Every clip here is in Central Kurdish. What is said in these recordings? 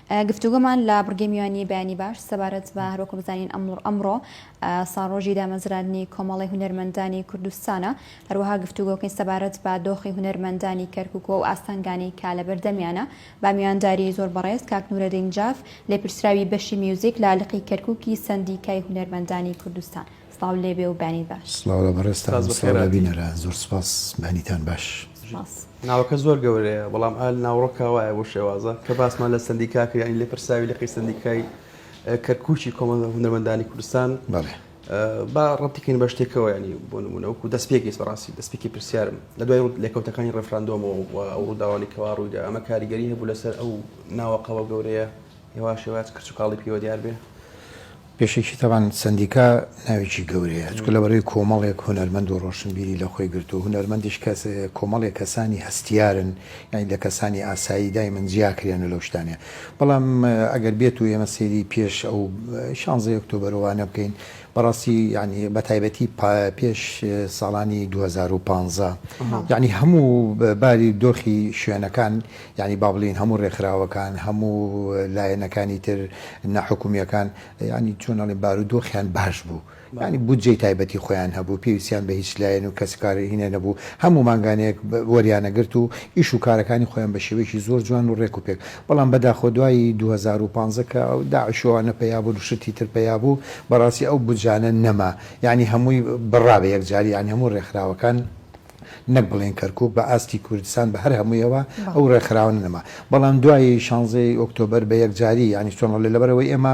گفتوگۆمان لە بڕگەی میوانی بەیانی باش سەبارەت بە هەروەکو بزانین ئەمڕ ئەمڕۆ ساڕۆژی دامەزراندنی کۆمەڵی هونەرمەندانی کوردستانە هەروەها گفتوگۆکەی سەبارەت بە دۆخی هونەرمەندانی کەرکک و ئاستەنگانی کا لە بەردەمیانە با میوانداری زۆر بەڕێز کاک نورەدین جاف لێپرسراوی بەشی میوزیک لە لقی کەرککی سەندیکای هونەرمەندانی کوردستان سڵاو لێبێ و بەینی باش. سڵاو لە بەڕێزتان و سڵاو لە بینەران زۆر سوپاس بەینیتان باش. سوپاس. ناوەکە زۆر گەورەیە بەڵام ئال ناوڕۆکا وایە بۆ شێوازە کە باسمان لە سەندیکا کرد یانی لێپرسراوی لقی سەندیکای کەرکوکی کۆمەڵگە هونەرمەندانی کوردستان بەڵێ با ڕەتیکەین بە شتێکەوە ینی بۆ نمونە وەکو دەستپێکیست بەڕاستی دەستپێکی پرسیارم لە دوای لێکەوتەکانی ڕفراندۆمەوە و ئەو ڕووداوانی کەوا ڕوویدا ئەمە کاریگەری هەبوو لەسەر ئەو ناوەقەوە گەورەیە هێواش هێواش کرچ و کاڵی پێوە دیار بێ. پێشەکی تەبان سەندیکا ناوێکی گەورەیە چونکە لەبەرەی کۆمەڵێک هونەرمەند و ڕۆشنبیری لە خۆی گرتووە هونەرمەندیش کەس کۆمەڵێک کەسانی هەستیارن یانی لە کەسانی ئاسایی دایمن جیا کرێنە لەو شتانە بەڵام ئەگەر بێت و ئێمە سەیری پێش ئەو شانزەی ئۆکتۆبەر وانە بکەین بەڕاستی یعنی بە تایبەتی پێش ساڵانی 2015 یعنی هەموو باری دۆخی شوێنەکان یانی با بڵێین هەموو ڕێکخراوەکان، هەموو لایەنەکانی تر ناحکومییەکان، یانی چۆن ئەڵێم بارودۆخیان باش بوو، یانی بودجەی تایبەتی خۆیان هەبوو، پێویستیان بە هیچ لایەن و کەسوکارێکی هێندە نەبوو، هەموو مانگانەیەک وەریانەگرت و ئیش و کارەکانی خۆیان بە شێوەیەکی زۆر جوان و ڕێک و پێک، بەڵام بەداخەوە دوای دوو هەزار و پازدە کە ئەو داعش و ئەوانە پەیا بوون و شتی تر پەیا بوو، بەڕاستی ئەو بودجانە نەما، یانی هەمووی بڕا بە یەکجاری، یانی هەموو ڕێکخراوەکان. نەک بڵێین کەرکوک بە ئاستی کوردستان بە هەر هەموویەوە ئەو ڕێکخراوانە نەما بەڵام دوای شانزە ی ئۆکتۆبەر بە یەکجاری یانی چۆن ئەڵێ لەبەر ئەوەی ئێمە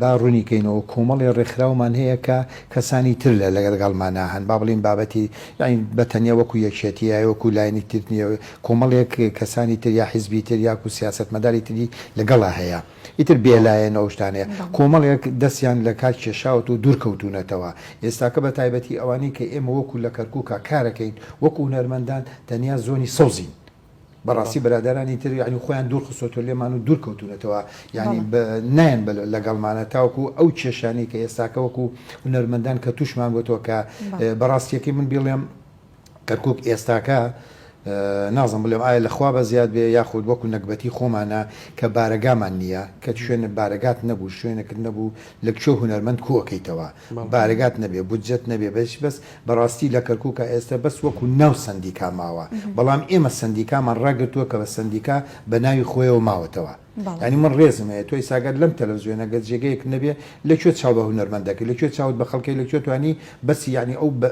با ڕوونی کەینەوە کۆمەڵێ ڕێکخراومان هەیە کە کەسانی تر لە لەگەڵمانا هەن با بڵێین بابەتی یانی بە تەنیا وەکو یەکێتی یا وەکو لایەنی تر نییە کۆمەڵێک کەسانی تر یا حیزبی تر یاکو سیاسەتمەداری تری لەگەڵا هەیە. ئیتر بێلایەنە ئەو شتانەیە. کۆمەڵێک دەستیان لە کار کێشاوەتەوە و دوور کەوتوونەتەوە. ئێستاکە بە تایبەتی ئەوانەی کە ئێمە وەکوو لە کەرکووکا کارەکەین، وەکوو هونەرمەندان تەنیا زۆنی سەوزین. بەڕاستی برادەرانی تر یانی خۆیان دوور خستۆتەوە لێمان و دوور کەوتوونەتەوە. یانی نایەن بە لەگەڵمانە تاوەکوو ئەو کێشانەی کە ئێستاکە وەکوو هونەرمەندان کە تووشمان بۆتەوە کە بە ڕاستییەکەی من بیڵێم، کەرکوک ئێستاکە نازم بلێم ئایا لە خوا بەزیاد بێ یاخود وەکو نەگبەتی خۆمانە کە بارەگامان نییە کە شوێنە بارەگات نەبوو شوێنەکرد نەبوو لە کوێ هونەرمەند کۆکەیتەوە بارەگات نەبێ بودجەت نەبێ بەش بەس بەڕاستی لە کەرکوکە ئێستا بەس وەکو ناو سندیکا ماوە بەڵام ئێمە سندیکامان ڕاگرتووە کە بە سندیکا بە ناوی خۆیەوە ماوەتەوە. یانی من ڕێزم هەیە تۆ ئیستا گەر لەم تەلەفزیۆنە گەر جێگەیەک نەبێ لە کوێ چاو بە هونەرمەند دەکەی لە کوێ چاوت بە خەڵکەی لە کوێ توانی بەسی یانی ئەو بە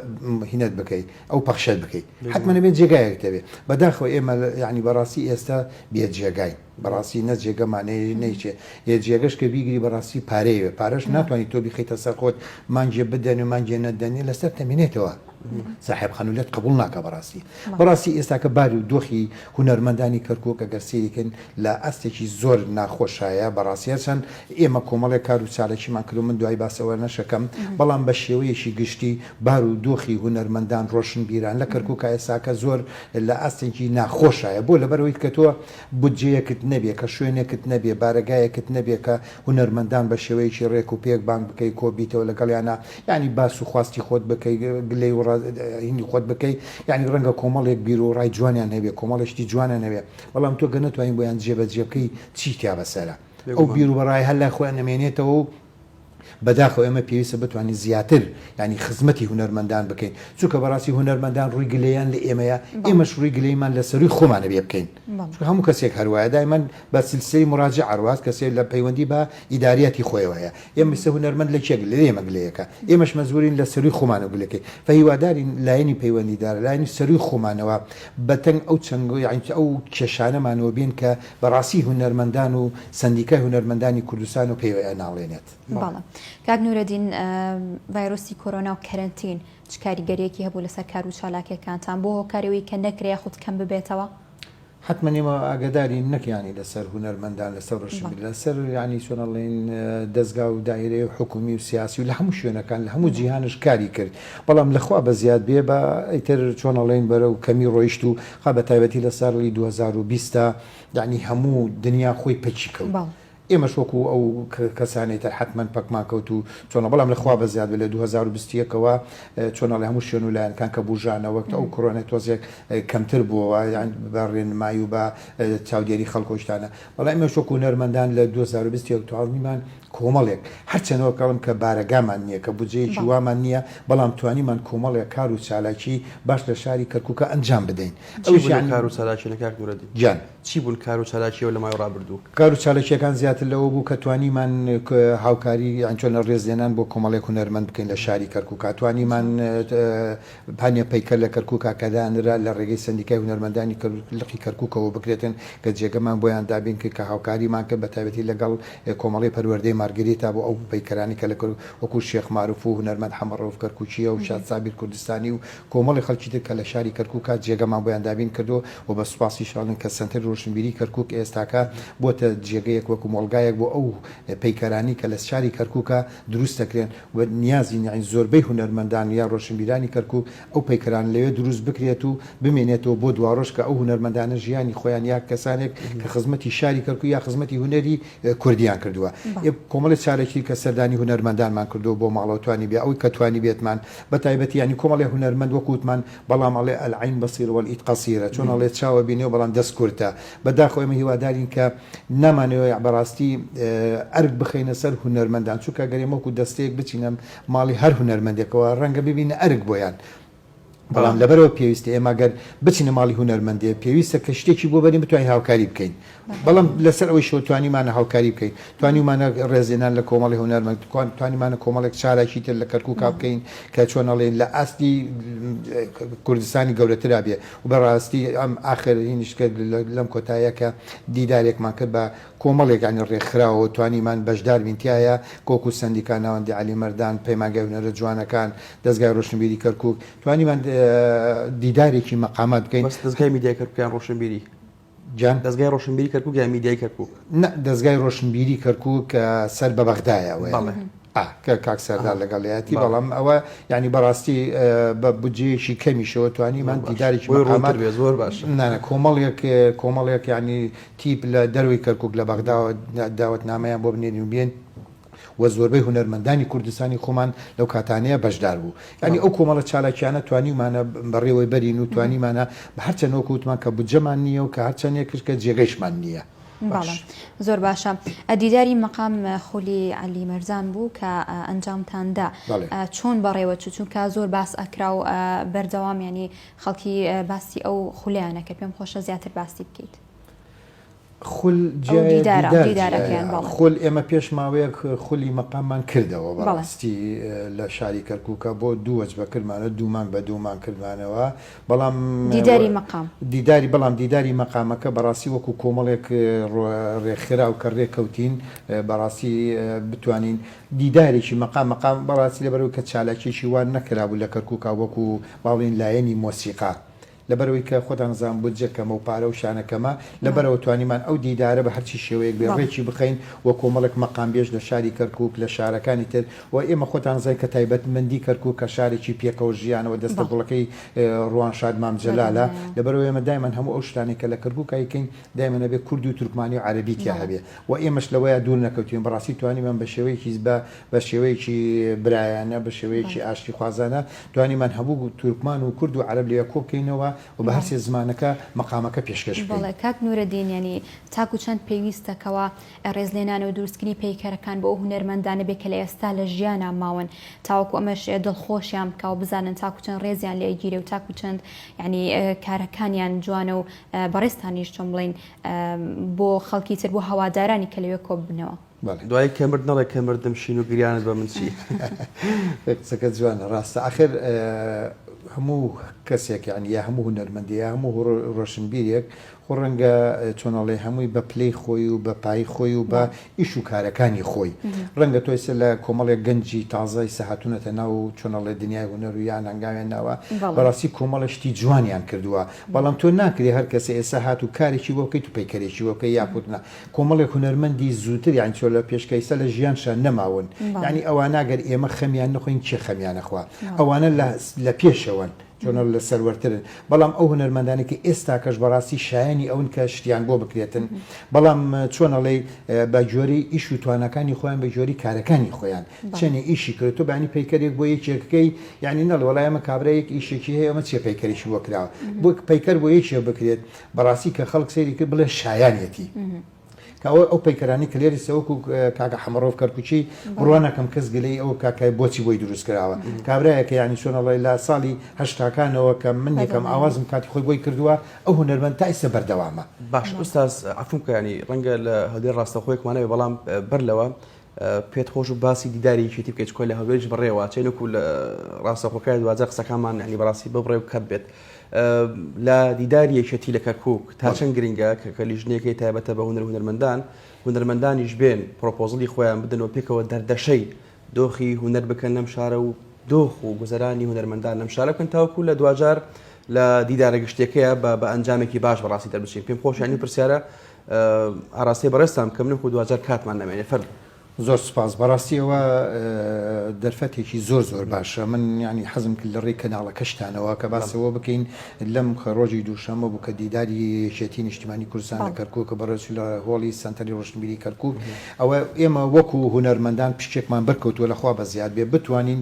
هینەت بکەی ئەو پەخشەت بکەی حەتمەن ئەبێ جێگایەک تەبێ بەداخەوە ئێمە یانی بەڕاستی ئێستا بێ جێگاین بەڕاستی نە جێگەمان نەی نەیچێ یە جێگەش کە بیگری بەڕاستی پارەیەوێ پارەش ناتوانانی تۆ بیخەیتە سەر خۆت مانگێ بدەنێ مانگێ نەدەنێ لەسەر تەمینێتەوە ساحێب خانوو لێت قبوڵ ناکا بەڕاستی بەڕاستی ئێستاکە باری و دۆخی هونەرمەندانی کەرکوک ئەگەر سەیریکەن لە ئاستێکی زۆر ناخۆشایە بەڕاستی هەرچەند ئێمە کۆمەڵێک کار و چالاکیمان کردو من دوای باس ئەوەنەشەکەم بەڵام بە شێوەیەکی گشتی بار و دۆخی هونەرمەندان ڕۆشنبیران لە کەرکوکا ئێستاکە زۆر لە ئاستێکی ناخۆشایە بۆ لەبەرەوەی کە تۆ بودجەیەکت نەبێ کە شوێنێکت نەبێ بارەگایەکت نەبێ کە هونەرمەندان بە شێوەیەکی ڕێک و پێک بانگ بکەی کۆ بیتەوە لەگەڵیانا یانی باس و خواستی خۆت بکەی گلەی و ڕا هینی خۆت بکەی یانی ڕەنگە کۆمەڵێک بیر و ڕای جوانیان هەبێ کۆمەڵێ شتی جوانیان هەبێ بەڵام تۆ گەر نەتوانی بۆیان جێ بە جێ بکەی چی تیا بە سەرە ئەو بێگومان. بیر و ڕایە هەر لای خۆیان ئەمێنێتەوە و بەداخەوە ئێمە پێویستە بتوانین زیاتر یانی خزمەتی هونەرمەندان بکەین چونکە بەڕاستی هونەرمەندان ڕووی گلەیان لە ئێمەیە بەڵێ. ئێمەش ڕووی گلەیمان لە سەرووی خۆمانە بێ بکەین بەڵێ. چونکە هەموو کەسێک هەر وایە دایمەن بە سیلسلەی مراجعە ئەڕوات کەسێ لە پەیوەندی بە ئیداریاتی خۆیەوە هەیە ئێمە سێ هونەرمەند لە کێ گلەیە ئێمە گلەیەکە ئێمەش مەجبورین لە سەروی خومانەوە گلەکەی فە هیوادارین لایەنی پەیوەندیدار لایەنی سەروی خومانەوە بە تەنگ ئەو چنگ یاعنی ئەو کێشانەمانەوە بێن کە بە ڕاسی هونەرمەندان و سەندیکای هونەرمەندانی کوردستان و پێ ناڵێنێت. بەڵێ کاک نورەدین ڤایرۆسی کۆرۆنا و کەرەنتین چ کاریگەریەکی هەبوو لەسەر کار و چالاکیەکانتان بۆ هۆکاری ئەوەی کە نەکرێ یاخود کەم ببێتەوە؟ حەتمەن ئێمە ئاگەدارین نەک یانی لەسەر هونەرمەندان لەسەر ڕەشی بێت لەسەر یانی چۆن ئەڵێن دەزگا و دایرەی حکومی و سیاسی و لە هەموو شوێنەکان لە هەموو جیهانش کاری کرد بەڵام لە خوا بە زیاد بێ بە ئیتر چۆن ئەڵێن بەرەو کەمی ڕۆیشت و خا بە تایبەتی لە ساڵی دوو هەزار و بیست دا یانی هەموو دنیا خۆی پەکی کەوت ئێمەش وەکو ئەو کەسانەی تر حەتمەن پەکمان کەوت و چۆنە بەڵام لە خوا بەزیاد بێت لە دوو هەزار و بیست و یەک ەوە چۆنە لە هەموو شوێن و لایەنەکان کە بوژانە وەک ئەو کۆرۆنای تۆزێک کەمتر بووەوە یان بە ڕێنمایی و بە چاودێری خەڵک و شتانە بەڵام ئێمەش وەکو هونەرمەندان لە دوو هەزار و بیست و یەک توانیمان کۆمەڵێک هەرچەند وەک ئەڵێم کە بارەگامان نییە کە بودجەیەکی وامان نییە بەڵام توانیمان کۆمەڵێک کار و چالاکی باش لە شاری کەرکووکە ئەنجام بدەین چی بوو ئەو کار و چالاکییانە کاک نورەدین گیان؟ چی بوون کار و چالاکییەوە لە ماوەی ڕابردوو؟ کار و چالاکییەکان زیاتر لەوە بوو کە توانیمان هاوکاری یان چۆنە ڕێزلێنان بۆ کۆمەڵێک هونەرمەند بکەین لە شاری کەرکووکا توانیمان پانێ پەیکەر لە کەرکووکا کە دانرا لە ڕێگەی سەندیکای هونەرمەندانی لقی کەرکووکەوە بکرێتن کە جێگەمان بۆیان دابین کرد کە هاوکاریمان کرد بە تایبەتی لەگەڵ کۆمەڵەی پەروەردەی مارگریتا بۆ ئەو پەیکەرانەی کە لە وەکوو شێخ ماروف و هونەرمەند حەمە ڕەوف کەرکووکییە و شاد سابیر کوردستانی و کۆمەڵی خەڵکی تر کە لە شاری کەرکووکە جێگەمان بۆیان دابین کردووە و بە سوپاسیشانن کە سەنتەری ڕۆشنبیریی کەرکووک ئێستاکە بووەتە جێگەیەک وەکو مۆڵگایەک بۆ ئەو پەیکەرانەی کە لە شاری کەرکووکە دروست دەکرێن و نیازین یانی زۆربەی هونەرمەندان یا ڕۆشنبیرانی کەرکووک ئەو پەیکەرانە لەوێ دروست بکرێت و بمێنێتەوە بۆ دواڕۆژ کە ئەو هونەرمەندانە ژیانی خۆیان یا کەسانێک کە خزمەتی شاری کەرکووک یا خزمەتی هونەری کوردیان کردووە. کۆمەڵێ چالاکی کە سەردانی هونەرمەندانمان کردووە بۆ ماڵەوە توانیبێ ئەوەی کە توانیبێتمان بە تایبەتی یانی کۆمەڵێ هونەرمەند وەکوو وتمان بەڵام ئەڵێ العین بصیرە والئید قصیرە چۆن ئەڵێ چاوە بینێ و بەڵام دەست کورتە بە داخەوە ئێمە هیوادارین کە نامانەوێ بە ڕاستی ئەرک بخەینە سەر هونەرمەندان چونکە گەر ئێمە وەکوو دەستەیەک بچینە ماڵی هەر هونەرمەندێکەوە ڕەنگە ببینە ئەرک بۆیان بەڵام لەبەرئەوە پێویستە ئێمە گەر بچینە ماڵی هونەرمەندێ پێویستە کە شتێکی بۆ بەرین بتوانین هاوکاری بکەین بەڵام لەسەر ئەوەی شەوە توانیمانە هاوکاری بکەین توانیمانە ڕێزێنان لە کۆمەڵی هونەرمەند توانیمانە کۆمەڵێک چالاکی تر لە کەرکوو کا بکەین کە چۆن ئەڵێن لە ئاستی کوردستانی گەورەترا بێ و بەڕاستی ئەم ئاخرینیش کرد لەم کۆتایەکە دیدارێکمان کرد بە کۆمەڵێک یانی ڕێکخراوەوە توانیمان بەشدار بین تیایا، کۆک و سەندیکا ناوەندی عەلی مەردان، پەیمانگای هونەرە جوانەکان، دەزگای ڕۆشنبیری کەرکوک، توانیمان دیدارێکی مەقامات بکەین. بەس دەزگای میدیای کەرکوک یان ڕۆشنبیری؟ جان؟ دەزگای ڕۆشنبیری کەرکوک یان میدیای کەرکوک؟ نا دەزگای ڕۆشنبیری کەرکوک کە سەر بە بەغدایە ئەوەیە. بەڵێ. ئا کە کاک سەردار لەگەڵیایەتی بەڵام ئەوە یانی بەڕاستی بە بودجەیەکی کەمیشەوە توانیمان دیداریی بۆی ڕۆمان بێ زۆر باش نانە کۆمەڵێک کۆمەڵێک ینی تیپ لە دەروی کەرکک لە بەغداوە داوەتنامەیان بۆ بنێنی و بێن و زۆربەی هونەرمەندانی کوردستانی خۆمان لەو کاتانەیە بەشدار بوو ینی ئەو کۆمەڵە چالاکیانە توانیمانە بەڕێوەی بەرین و توانیمانە بە هەرچەند وەکووتمان کە بجەمان نییە و کە هەرچەندێک کرد کە جێگەیشمان نییە بەڵێ زۆر باشە ئەدیداری مەقام خولی علی مەرزان بوو کە ئەنجامتاندا چۆن بەڕێوە چ چونکە زۆر باس ئەکرا و بەردەوام ینی خەڵکی باسی ئەو خولیانە کە پێم خۆشە زیاتر باسی بکەیت خول خول ئێمە پێش ماوەیەک خولی مەقاممان کردەوە بەڕاستی لە شاری کەرکووکە بۆ دووەج بە کردمانە دوومانگ بە دوومان کردمانەوە بەڵام دیداری مەقام. دیداری بەڵام دیداری مەقامەکە بەڕاستی وەکو کۆمەڵێک ڕێکخراو کە ڕێککەوتین بەڕاستی بتوانین دیدارێکی مەقام مەقام بەڕاستی لەبەرەوەی کە چالاکیەکی وا نەکرابوو لە کەرکوکا وەکو با بڵێین لایەنی مۆسیقا لەبەرەوەی کە خۆتان ئەزان بودجە کەمە و پارە و شانە کەمە لەبەرەوە توانیمان ئەو دیدارە بە هەرچی شێوەیەک بێ ڕێکی بخەین و کۆمەڵێک مەقامبێژ لە شاری کەرکوک لە شارەکانی تر و ئێمە خۆتان دەزانن کە تایبەتمەندی کەرکوک کە شارێکی پێکەوە ژیانە و دەستە گوڵەکەی روانشاد مام جەلالە لەبەرئەوەی ئێمە دایمەن هەموو ئەو شتانەی کە لە کەرکوک ئەیکەین دایمەن ئەبێ کوردی و تورکمانی و عەرەبی تیا هەبێ و ئێمەش لەوەیا دوور نەکەوتوین بەڕاستی توانیمان بە شێوەیەکی بە بە شێوەیەکی برایانە بە شێوەیەکی ئاشتی خوازانە توانیمان هەموو تورکمان و کورد و عەرەب لەوێ کۆ بکەینەوە و بە هەر سێ زمانەکە مەقامەکە پێشکەش بکەین. بەڵێ کاک نورەدین یانی تاکو چەند پێویستە کەوا ڕێزلێنانە و دروستکری پەیکەرەکان بۆ ئەو هونەرمەندانە بێ کە لە ئێستا لە ژیانا ماون تاوەکو ئەمەش دڵخۆشیان بکا و بزانن تاکو چەند ڕێزیان لێ ئەگیرێ و تاکو چەند یانی کارەکانیان جوانە و بەڕێزتانیش چۆن بڵێین بۆ خەڵکی تر بۆ هەوادارانی کە لەوێ کۆ ببنەوە. دوایی کە مرد نەڵێ کە مردم شین و گریانت بە من چی. قسەکەت جوانە ڕاستە ئاخر هەموو کەسێک یانی یا هەموو هونەرمەندێ یا هەموو ڕۆشنبیرێک خۆ ڕەنگە چۆن ئەڵێ هەمووی بە پلەی خۆی و بە پایی خۆی و بە ئیش و کارەکانی خۆی ڕەنگە تۆ ئێستا لە کۆمەڵێک گەنجی تازە ئیستا هاتوونەتە ناو چۆن ئەڵێ دنیای هونەر و یان هەنگاویان ناوە بەڕاستی کۆمەڵێ شتی جوانیان کردووە بەڵام تۆ ناکرێ هەر کەسێ ئێستا هات و کارێکی بۆ بکەیت و پەیکەرێکی بۆ بکەی یاخود نا کۆمەڵێک هونەرمەندی زووتر یانی چۆن لە پێشکە ئێستا لە ژیانشان نەماون یانی ئەوانە گەر ئێمە خەمیان نەخۆین کێ خەمیان ئەخوا ئەوانە لە لە پێشەوەن تۆنر لە سەروەرترن بەڵام ئەو هونەرمەندانەی کە ئێستاکەش بەڕاستی شایەنی ئەون کە شتیان بۆ بکرێتن بەڵام چۆن ئەڵێی بە گوێرەی ئیش و تواناکانی خۆیان بە گوێری کارەکانی خۆیان چێنێ ئیشی کرد تۆ بانی پەیکەرێک بۆ یەکێکەکەی یعنی نەڵ وەڵای ئەمە کابرایەک ئیشێکی هەیە ئەمە چێ پەیکەرێکی بۆ کراوە بۆ پەیکەر بۆ یەکێ بکرێت بەڕاستی کە خەڵک سەیری کرد بڵێ شایانیەتی. کە ئەوە ئەو پەیکەرانی کە لێری سەوەک و کاکە حەمەڕۆف کەرکوچی بڕوانەکەم کەس گلەی ئەو کاکای بۆچی بۆی دروست کراوە کابراایەکە ینی سۆنەڵی لە ساڵی هەشتاکانەوە کە من یەکەم ئاوازم کاتی خۆی بۆی کردووە ئەو هونەرمەند تا ئیسە بەردەوامە باش ئوستاز عفوبکە ینی ڕەنگە لە هەدێ ڕاستەخۆیەکمانەوێ بەڵام بەر لەوە پێت خۆش بوو باسی دیداری یەکێتی بکەیت چکۆ لە هەولێریش بەڕێ واچێت وەکو لە ڕاستەخۆکەیە دواجار قسەکانمان یعنی بەڕاستی ببڕێ و کەت بێت لە دیداری یەکێتی لە کەرکک تا چەند گرنگە کە کە لیژنێکی تایبەتە بە هونەر هونەرمەندان هونەرمەندانیش بێن پرۆپۆزلی خۆیان بدەنەوە پێکەوە دەردەشەی دۆخی هونەر بکەن لەم شارە و دۆخ و گوزەرانی هونەرمەندان لەم شارە بکەن تاوکو لە دواجار لە دیدارە گشتەکەیە بە بە ئەنجامێکی باش بەڕاستی دەربچین پێم خۆشیانی پرسیارە ئاراستەی بەڕێزتان بکەم نەکو دواجار کاتمان نەمێنێ فەرموو. زۆر سوپاس بەڕاستی ئەوە دەرفەتێکی زۆر زۆر باشە من ینی حەزم کرد لە ڕێی کەناڵەکەشتانەوە کە باسەوە بکەین لەم ڕۆژی دووشەمە بوو کە دیداری یەکێتی نیشتیمانی کوردستان لە کەرکوک کە بەڕێز لە هۆڵی سەنتەری ڕۆشنبیری کەرکوک ئەوە ئێمە وەکو هونەرمەندان پشکێکمان بەرکەوتووە لەخوا بە زیاد بێ بتوانین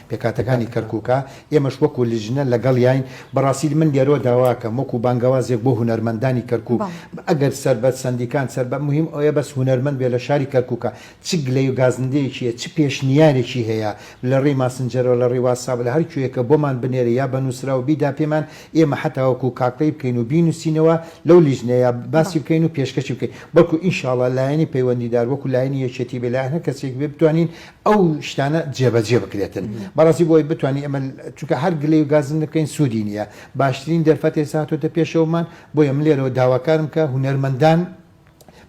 پێکهاتەکانی کەرکوکە، ئێمەش وەکو لجنە لەگەڵیاین، بەڕاستی من لێرەوە داواکەم وەکو بانگەوازێک بۆ هونەرمەندانی کەرکوک، ئەگەر سەربە سەندیکان سەربە موهیم ئەوەیە بەس هونەرمەند بێت لە شاری کەرکوکە چ گلەیو گازندەیەکی هەیە چ پێشنیارێکی هەیە لەڕێی ماسنجەرەوە لەڕێی واتساب لەهەر کوێیەکە بۆمان بنێرێ یا بە نوسراو بیدا پێمان ئێمە حەتا وەکو کاکڵی بکەین و بینوسینەوە لەو لجنەیە باسی بکەین و پێشکەشی بکەین بەڵکو ان شاءاللە لایەنی پەیوەندیدار وەکو لایەنی یەکێتی بێت لایەن هەر کەسێک بێت بتوانین ئەو شتانە جێبەجێ بکرێتن بەڕاستی بۆی بتوانین ئەمە چونکە هەر گلەی و گازن نەکەین سوودی نییە باشترین دەرفەت ئێستا هاتۆتە پێشەوەمان بۆیە من لێرەوە داواکارم کە هونەرمەندان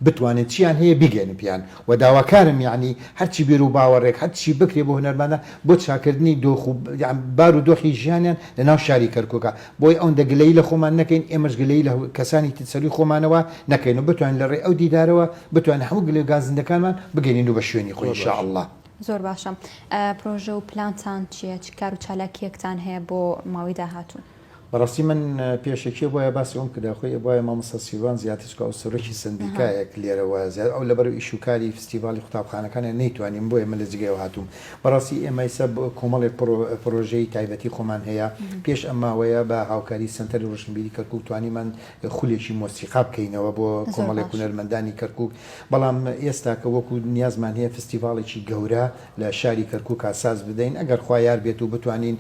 بتوانن چیان هەیە بیگەێنن پێیان و داواکارم یعنی هەرچی بیر و باوەڕێک هەرچی بکرێ بۆ هونەرمانە بۆ چاکردنی دۆخ و بار و دۆخی ژیانیان لە ناو شاری کەرکوکە بۆیە ئەوەندە گلەیی لە خۆمان نەکەین، ئێمەش گلەیی لە کەسانی تر سەرووی خۆمانەوە نەکەین و بتوانین لە ڕێی ئەو دیدارەوە بتوانین هەموو گلە گازندەکانمان بگەنینو بە شوێنی خۆی ان شاء اللە. زۆر باشە. پرۆژە و پلانتان چییە؟ چ کار و چالاکییەکتان هەیە بۆ ماوەی داهاتوو؟ بەڕاستی من پێشەکی ئەبوایە باسی ئەوم کردایە، خۆی ئەبوایە مامۆستا سیروان زیاتر چکە ئەو سەرۆکی سەندیکایەک لێرە وایە زیاتر ئەو لەبەر ئیش و کاری فستیڤاڵی قوتابخانەکانە نەیتوانی بۆیە من لە جێگای ئەو هاتووم بەڕاستی ئێمەی سەب کۆمەڵێک پڕۆ پڕۆژەی تایبەتی خۆمان هەیە پێش ئەم ماوەیە بە هاوکاری سەنتەری ڕۆشنبیری کەرکوک توانیمان خولێکی مۆسیقا بکەینەوە بۆ زۆر کۆمەڵێک باش. هونەرمەندانی کەرکوک بەڵام ئێستاکە وەکو نیازمان هەیە فستیڤاڵێکی گەورە لە شاری کەرکوکا ساز بدەین ئەگەر خوا یار بێت و بتوانین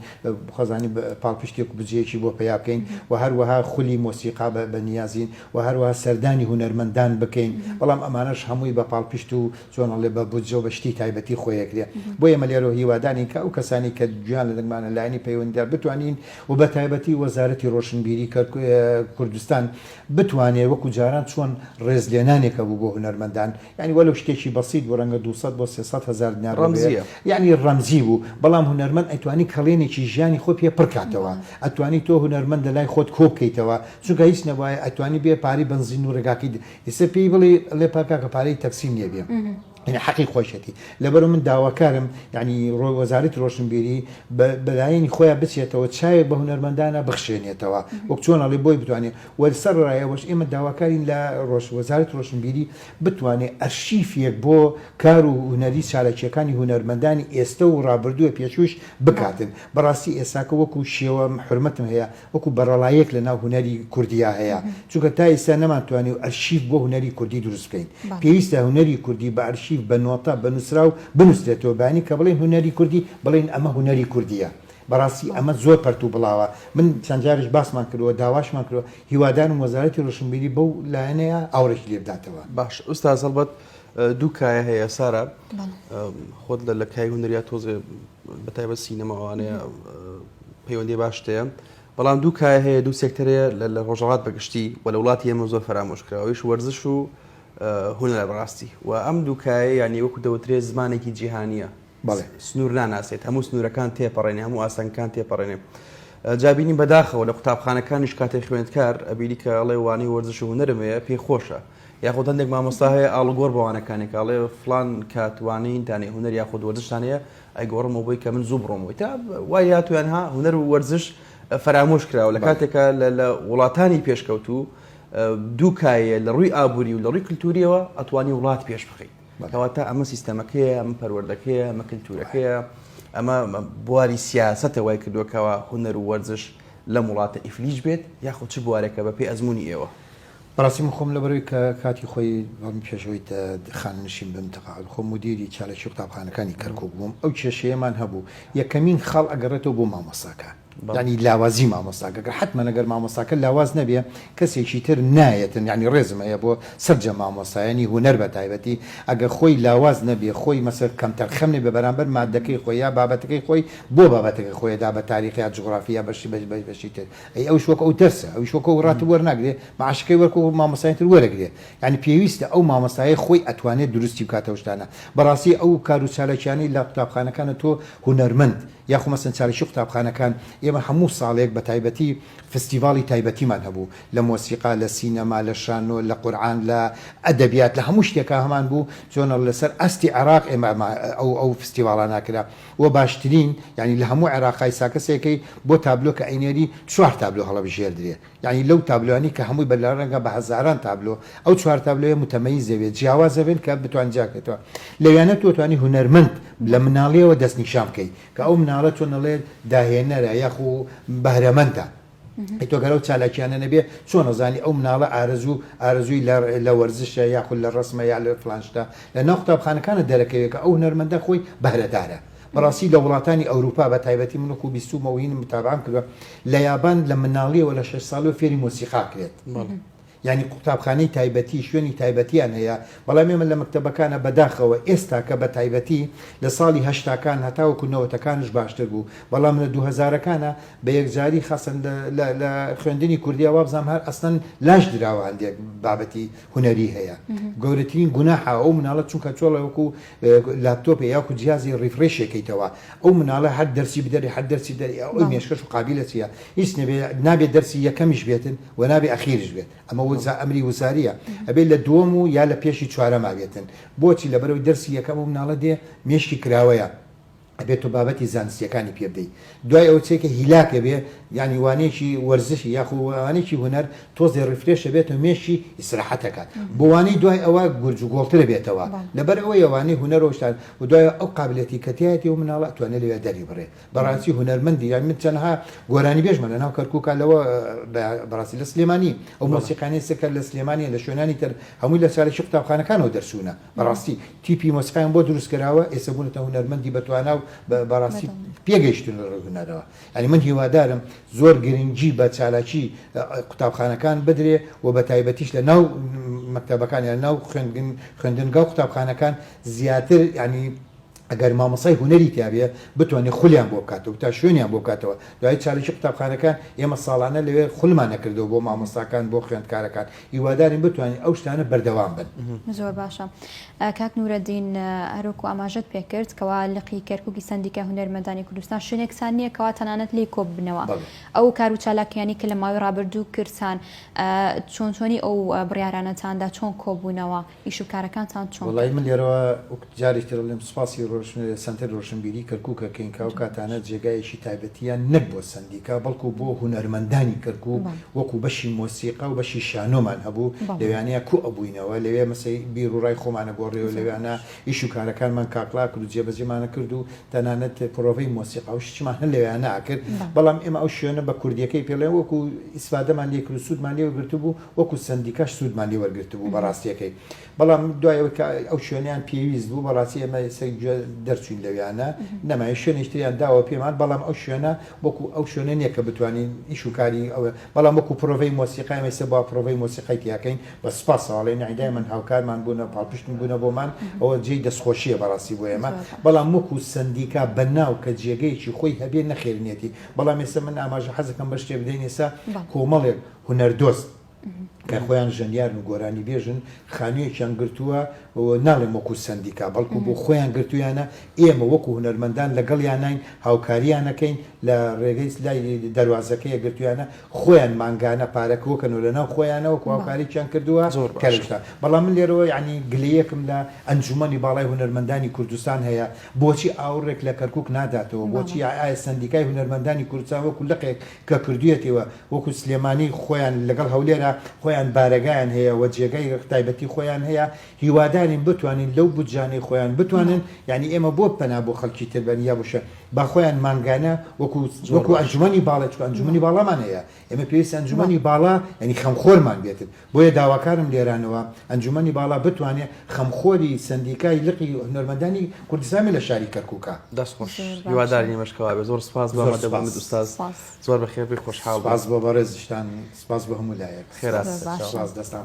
خوازانین پاڵپشتێک و بجەیەکی بۆ پەیا بکەین و هەروەها خولی مۆسیقا بە بە نیازین و هەروەها سەردانی هونەرمەندان بکەین بەڵام ئەمانەش هەمووی بە پاڵپشت و چۆن ئەڵێ بە بودجەو بە شتی تایبەتی خۆی ئەکرێ بۆ ئێمە لێرەوە هیوادانین کە ئەو کەسانی کە جیان لە دەنگمانە لایەنی پەیوەندیدار بتوانین و بە تایبەتی وەزارەتی ڕۆشنبیری کوردستان بتوانێ وەکو جاران چۆن ڕێز لێنانێکە بوو بۆ هونەرمەندان یانی وەلەو شتێکی بەسیت بوو ڕەنگە دوو سەد بۆ سێ سەد هەزار دینار بێ یانی ڕەمزی بوو بەڵام هونەرمەند ئەتوانی کەڵێنێکی ژیانی خۆی پێ پڕ کاتەوە ئەتوانی تۆ هونەرمەند لە لای خۆت کۆ بکەیتەوە چونکە هیچ نەبوایە ئەتوانی بێ پارەی بەنزین و ڕێگاکەی ئیستا پێی بڵی ڵێ پا کاکە پارەی تەکسیم نیە بێم یەنی حەقی خۆیشەتی لەبەرو من داواکارم یەنی ڕۆ وەزارەتی ڕۆشنبیری بە بەلایەنی خۆیا بچێتەوە چاوێک بە هونەرمەندانە بخشێنێتەوە وەک چۆن ئەڵێ بۆی بتوانێ وە سەر ڕای ئەوەش ئێمە داواکارین لە ڕۆژ وەزارەت ڕۆشنبیری بتوانێ ئەرشیفیەک بۆ کار و هونەری چالاکیەکانی هونەرمەندانی ئێستە و ڕابردووە پێشووش بکاتن بەڕاستی ئێستاکە وەکو شێوە حورمەتم هەیە وەکو بەرەڵاییەک لە ناو هونەری کوردیا هەیە چونکە تا ئیستا نەمان توانیو ئەرشیف بۆ هونەری کوردی دروست بکەین پێویستە هونەری کوردی بە ئەرشیف بە نۆتە بە نوسراو بنوسرێتەوە بەیانی کە بڵێین هونەری کوردی بڵێین ئەمە هونەری کوردیە بەڕاستی ئەمە زۆر پەرتو بڵاوە من چەند جاریش باسمان کردوە داواشمان کردوە هیوادارم وەزارەتی ڕۆشنبیری بەو لایەنەیە ئاوڕێکی لێ بداتەوە. باش ئوستاز هەڵبەت دوو کایە هەیە سارا خۆت لە لە کای هونەریا تۆزێ بەتایبەت سینەما ئەوانەیە پەیوەندی باش تەیە بەڵام دوو کای هەیە دوو سێکتەرەیە لە ڕۆژەڵات بەگشتی و لە وڵاتی ئێمە زۆر فەرامۆشکراوەیش وەرزش و هونەرە بەڕاستی و ئەم دووکایە یانی وەکو دەوترێت زمانێکی جیهانیە سنوور ناناسێت هەموو سنوورەکان تێپەڕێنێ هەموو ئاسانکان تێپەڕێنێ جابینی بەداخەوە لە قوتابخانەکانیش کاتێ خوێندکار ئەبیری کە ئەڵێ وانەی وەرزش و هونەرمەیە پێی خۆشە. یاخود هەندێک مامۆستا هەیە ئاڵوگۆر بە وانەکانی کە ئەڵێ فڵان کات وانەیینتان هەیە، هونەر یاخود وەرزشتان هەیە، ئەیگۆڕمەوە بۆی کە من زوو بڕۆمەوەی. تا وای هاتوویان ها هونەر و وەرزش فەرامۆش کراوە، لە کاتێکا لە وڵاتانی پێشکەوتوو دوو کایەیە لە ڕووی ئابووری و لە ڕووی کلتوورییەوە ئەتوانی وڵات پێش بخەیت. کەواتە ئەمە سیستەمەکەیە، ئەمە پەروەردەکەیە، ئەمە کلتوورەکەیە، ئەمە بواری سیاسەتە وای کردووە کەوا هونەر و وەرزش لەم وڵاتە ئیفلیج بێت یاخود چ بوارێکە بەپێی ئەزموونی ئێوە؟ بەڕاستی من خۆم لەبەرەوەی کە کاتی خۆی بەم پێش ئەوەی خانەنشین بم تەقاعود خۆم مودیری چالاکی قوتابخانەکانی کەرکوک بووم ئەو کێشەیەمان هەبوو یەکەمین خاڵ ئەگەڕێتەوە بۆ مامۆستاکە یانی لاوازی مامۆستاکە کە حتممە گەر مامۆستاکە لاواز نەبێ کەسێکی تر نایەتن یانی ڕێزم هەیە بۆ سەرجە مامۆستایانی هونەر بە تایبەتی ئەگەر خۆی لاواز نەبێ خۆی مەسەر کەمتەرخەم نەبێ بەرامبەر مادەکەی خۆی یا بابەتەکەی خۆی بۆ بابەتەکەی خۆیدا بە تاریخ یا جوغرافی یا بەشی بەشی تر ئەی ئەوش وەک ئەو دەرسە ئەوش وەک ئەو راتب وەرناگرێ معاشەکەی وەک ئەو مامۆستای تر وەرەگرێ یانی پێویستە ئەو مامۆستایە خۆی ئەتوانێ دروستی بکات ئەو شتانە بەڕاستی ئەو کار و چالاکیانەی لە قوتابخانەکانە تۆ هونەرمەند یاخۆ مەسەن چالاکی قوتابخانەکان ئێمە هەموو ساڵێک بە تایبەتی فستیڤاڵی تایبەتیمان هەبوو لە مۆسیقا لە سینەما لە شانۆ لە قورعان لە ئەدەبیات لە هەموو شتێکا هەمان بوو چۆنە لەسەر ئاستی عێراق ئێمە ئەو ئەو فستیڤاڵانە ئەکرا وە باشترین یانی لە هەموو عێراقای سا کەسێکەی بۆ تابلۆ کە ئەینێری چوار تابلۆ هەڵەبژێردرێ یانی لەو تابلۆیانی کە هەمووی بە لە رەنگە بە هەزاران تابلۆ ئەو چوار تابلۆیە متەمەیزە بێت جیاوازە بێن کە بتوان جیا کەتەوە لەویانە تۆ توانی هونەرمەند لە مناڵیەوە دەست نیشان بکەی کە ئەو مناڵە چۆن ئەڵێ داهێنەرە یاخو بەهرەمەندە ئەی تۆ گەر ئەو چالاکیانە نەبێ چۆن ئەزانی ئەو مناڵە ئارەزوو ئارەزووی لە وەرزشە یاخود لە ڕسمە یا لە فلان شتە لە ناو قوتابخانەکانە دەرەکەوێت کە ئەو هونەرمەندە خۆی بەهرەدارە بەڕاستی لە وڵاتانی ئەوروپا بە تایبەتی من و خو بیستومەوە هینم متابعەم کردوە لە یابان لە مناڵیەوە لە شەش ساڵی و فێری مۆسیقا کرێت بەڵێ یانی قوتابخانەی تایبەتی شوێنی تایبەتیان هەیە بەڵام ئێمە لە مەکتەبەکانە بەداخەوە ئێستاکە بە تایبەتی لە ساڵی هەشتاکان هەتاوەکو نەوەتەکانش باشتر بوو بەڵام لە دوو هەزارەکانە بە یەکجاری خاصەن لە خوێندنی کوردیا وابزانم هەر ئەسلەن لاش دراوە هەندێک بابەتی هونەری هەیە گەورەترین گوناحە ئەو مناڵە چونکە چۆڵەوەکو لاپتۆپێ یاکو جیازی ڕیفرێشێکەیتەوە ئەو مناڵە هەر دەرسی بدەری هەر دەرسی دەری ئەو مێشکەش و قابلە چیە هیچ نەبێ نابێ دەرسی یەکەمیش بێتن وە نابێ ئەخیرش بێت ئەمە وزە ئەمری وزاریە ئەبێ لە دووەم و یا لە پێشی چوارەما بێتن بۆچی لەبەرەوەی دەرسی یەکەم ئەو مناڵە دێ مێشکی کراوەیە ئەبێ تۆ بابەتی زانستیەکانی پێ بدەی دوای ئەوە چێکە هیلاک ئەبێ یانی وانەیەکی وەرزشی یاخۆ وانەیەکی هونەر تۆزێ ڕیفرێش ئەبێتەوە مێشکی ئیسراحەت ئەکات بۆ وانەی دوای ئەوە گورج و گۆڵتر ئەبێتەوە لەبەر ئەوەیە وانەی هونەر و شتان و دوای ئەو قابلیەتی کە تیایەتی ئەو مناڵە ئەتوانێ لەوێ دەری بڕێ بەڕاستی هونەرمەندی یان من تەنها گۆرانیبێژمە لە ناو کەرکوکا لەوە بەڕاستی لە سلێمانی ئەو مۆسیقانەی سەکەر لە سلێمانیە لە شوێنانی تر هەمووی لە چالێکی قوتابخانەکانەوە دەرچوونە بەڕاستی تیپی مۆسیقایان بۆ دروست کراوە ئێستا بوونەتە هونەرمەندی بەتوانا و بەڕاستی پێگەیشتون لە ڕووی هونەرەوە یانی من هیوادارم زۆر گرنگی بە چالاکی قوتابخانەکان بدرێ و بە تایبەتیش لە ناو مەکتەبەکان یان ناو خوێندن خوێندنگا و قوتابخانەکان زیاتر یانی ئەگەر مامۆستای هونەری تیابێ بتوانێ خولیان بۆ بکاتەوە تا شوێنیان بۆ بکاتەوە دوای چالاکی قوتابخانەکان ئێمە ساڵانە لەوێ خولمان ئەکردەوە بۆ مامۆستاکان بۆ خوێندکارەکان هیوادارین بتوانین ئەو شتانە بەردەوام بن. زۆر باشە کاک نورەدین هەروەکو ئاماژەت پێکرد کەوا لقی کەرکوکی سەندیکای هونەرمەندانی کوردستان شوێنێکتان نییە کەوا تەنانەت لێی کۆببنەوە ئەو کار و چالاکیانی کە لە ماوەی ڕابردوو کردتان چۆن چۆنی ئەو بڕیارانەتاندا چۆن کۆبوونەوە؟ ئیش و کارەکانتان چۆن کرد؟ وەڵایی من لێرەوە وەک جارێکی تر ئەڵێم سوپاسی ڕۆشن سەنتەری ڕۆشنبیری کەرکوک ئەکەین کە ئەو کاتانە جێگایەکی تایبەتیان نەک بۆ سەندیکا بەڵکو بۆ هونەرمەندانی کەرکوک وەکو بەشی مۆسیقا و بەشی شانۆمان هەبوو لەوێانەیە کۆ ئەبووینەوە لەوێ مەسەی بیر و ڕای خۆمان ئەگۆڕێ و لەوێانە ئیش و کارەکانمان کاکڵا کرد و جێبەجێمان ئەکرد و تەنانەت پڕۆڤەی مۆسیقا و شتیشمان هەر لەوێانە ئەکرد بەڵام ئێمە ئەو شوێنە بە کوردیەکەی پێڵێ وەکو ئیسفادەمان لێ کرد و سوودمان لێ وەرگرتبوو وەکو سەندیکاش سوودمان لێ وەرگرتبوو بە ڕاستییەکەی، بەڵام دوای ئەوەی کە ئەو شوێنەیان پێویست بوو، بەڕاستی ئێمە سەری گوێ دەرچووین لەویانە، نەماین، شوێنێکی تریان داوە پێمان، بەڵام ئەو شوێنە وەکو ئەو شوێنە نییە کە بتوانین ئیش و کاری ئەوێ، بەڵام وەکو پرۆڤەی مۆسیقا ئێمە ئیستا با پرۆڤەی مۆسیقای تیا کەین، بە سوپاسەوە ئەڵێین، نەعی دایمەن هاوکارمان بوون و پاڵپشتی بوونە بۆمان، ئەوە جێی دەستخۆشییە بەڕاستی بۆ ئێمە، بەڵام وەکو سەندیکا بە ناو کە جێگەیەکی خۆی هەبێ نەخێر نییەتی، بەڵام ئێستا من ئاماژە حەز ئەکەم بە شتێک بدەین، ئێستا کۆمەڵێک، هونەردۆست کە خۆیان ژەنیارن و گۆرانیبێژن خانوویەکیان گرتووە، ناڵێم وەکوو سەندیکا، بەڵکوو بۆ خۆیان گرتوویانە، ئێمە وەکوو هونەرمەندان لەگەڵیاناین، هاوکارییان ئەکەین، لە ڕێگەی لای دەروازەکەیە گرتوویانە، خۆیان مانگانە پارە کۆکەن و لەناو خۆیانەوە وەکوو هاوکارییەکیان کردووە. زۆر باشە. بەڵام من لێرەوە یەعنی گلەیەکم لە ئەنجوومەنی باڵای هونەرمەندانی کوردستان هەیە، بۆچی ئاوڕێک لە کەرکووک ناداتەوە؟ بۆچی ئایا سەندیکای هونەرمەندانی کوردستان وەکوو لقێک کە کردوویەتیوە، وەکو سلێمانی خۆیان لەگەڵ هەولێرە خۆیان بارەگایان هەیە و جێگای تایبەتی خۆیان هەیە هیوادارین بتوانین لەو بودجانەی خۆیان بتوانن یانی ئێمە بۆ پەنا بۆ خەڵکی تر بەرن یا بۆ شوێن با خۆیان مانگانە وەکو وەکو ئەنجومەنی باڵا چکو ئەنجومەنی باڵامان هەیە ئێمە پێویستە ئەنجومەنی باڵا یانی خەمخۆرمان بێتن بۆیە داواکارم لێرانەوە ئەنجومەنی باڵا بتوانێ خەمخۆری سەندیکای لقی هونەرمەندانی کوردستان بێ لە شاری کەرکوکا. دەست خۆش هیوادارین ئەمەش کەوا بێ زۆر سپاس بۆ ئامادە بوونت استاذ زۆر بەخێربێی خۆشحاڵ بووین. سپاس بۆ بەڕێزیشتان سپاس بۆ هەموو لایەک خێرات بێت سپاس دەستان خۆش.